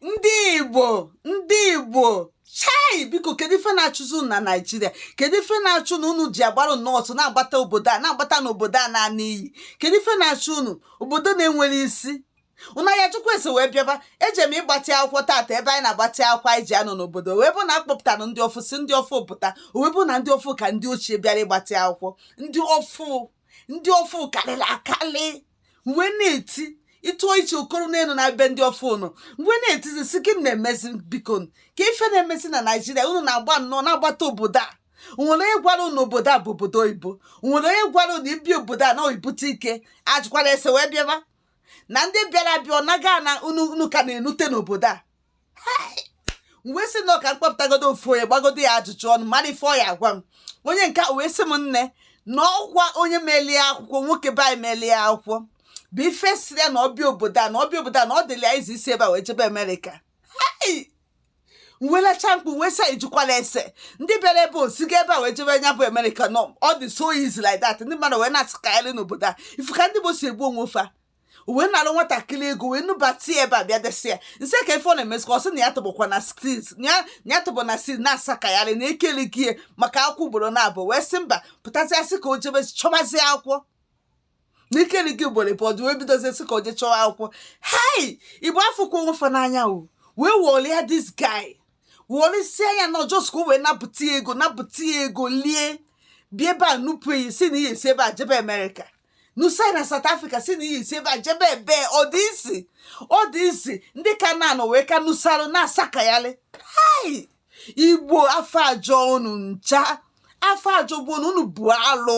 ndị igbo ndị igbo chai biko kedu ife na-achụzi unu na naijiria kedu ife na-achụ unu ji agbara n'ọsọ na-agbata obodo a na-agbata n'obodo a na-ana n'iyi kedu ife na-achụ unu obodo na-enwerọ isi unu ya-ajụkwa ese wee bịaba eje m ịgbatị akwụkwọ taata ebe anyị na-agbatị akwụkwọ anyị ji anọ n'obodo wee bụ na a kpọpụtara ndị ọfụ sị ndị ọfụ pụta wee bụ na ndị ọfụ ka ndị ochie bịara ịgbatị akwụkwọ ndị ọfụ ndị ọfụ karịrị akarị m wee na-eti ị tụọ iche okoro n'elu na be ndị ọfụ ụnụ m wee na-etizi sị gịnị na-emezi biko kee ife na-emezi na naijiria unu na-agba nnọọ na-agbata obodo a o nwere onye gwara unu obodo a bụ obodo oyibo o nwere onye gwara unu ị bịa obodo a na i bute ike ajụkwara ese wee bịaba na ndị bịara abịa anaga ana unu ka na-enute n'obodo a wee sị na ọ ka m kpọpụtagodo ofu onye gbagodo ya ajụjụ ọnụ mara ife ọ ya agwa m onye nke a wee sị m nne na ọ kwa onye melie akwụkwọ nwoke be anyị melie akwụkwọ bụ ife sị ya na ọ bịa obodo a na ọ bịa obodo a na ọ dịla easy isi ebe a wee jebe amerịka m wee lacha mkpu wee sị ị jụkwala ese ndị bịara ebe a esigo ebe a wee jebe nya bụ amerịka na ọ dị so easy like that ndị mmadụ wee na-asakarị n'obodo a ị fụ ka ndị igbo si egbu onwe fa o wee nalụ nwatakịrị ego wee nubata ya ebe a bịa desa ya na street kee ife ọ na-emezi ka ọ sị na ya tọbụkwa na street ya ya tọbụ na street na-asakayarị na e kelego ya maka akwụkwọ ugboro na abụọ wee si nga pụtazi a sị ka o jebe chọbazie akwụkwọ na e kelego ya ugboro ịbụ ọdụ wee bidozie sị ka o jee chọwa akwụkwọ hei igbo afụkwọ onwe fa n'anya o wee wọlịa this guy wọlịsịa ya na ọ just ka o wee napụta ya ego napụta ya ego lie bịa ebe a nupụ ya sị na ị ya-esi ebe a jebe amerịka nusa na South Africa sị na ị ya-esi ebe a jebe ebe ọ dị easy ọ dị easy ndị ka na-anọ wee ka nusarụ na-asakayalị hai igbo afọ ajọ unu ncha afọ ajọ bụ unu unu bụ alụ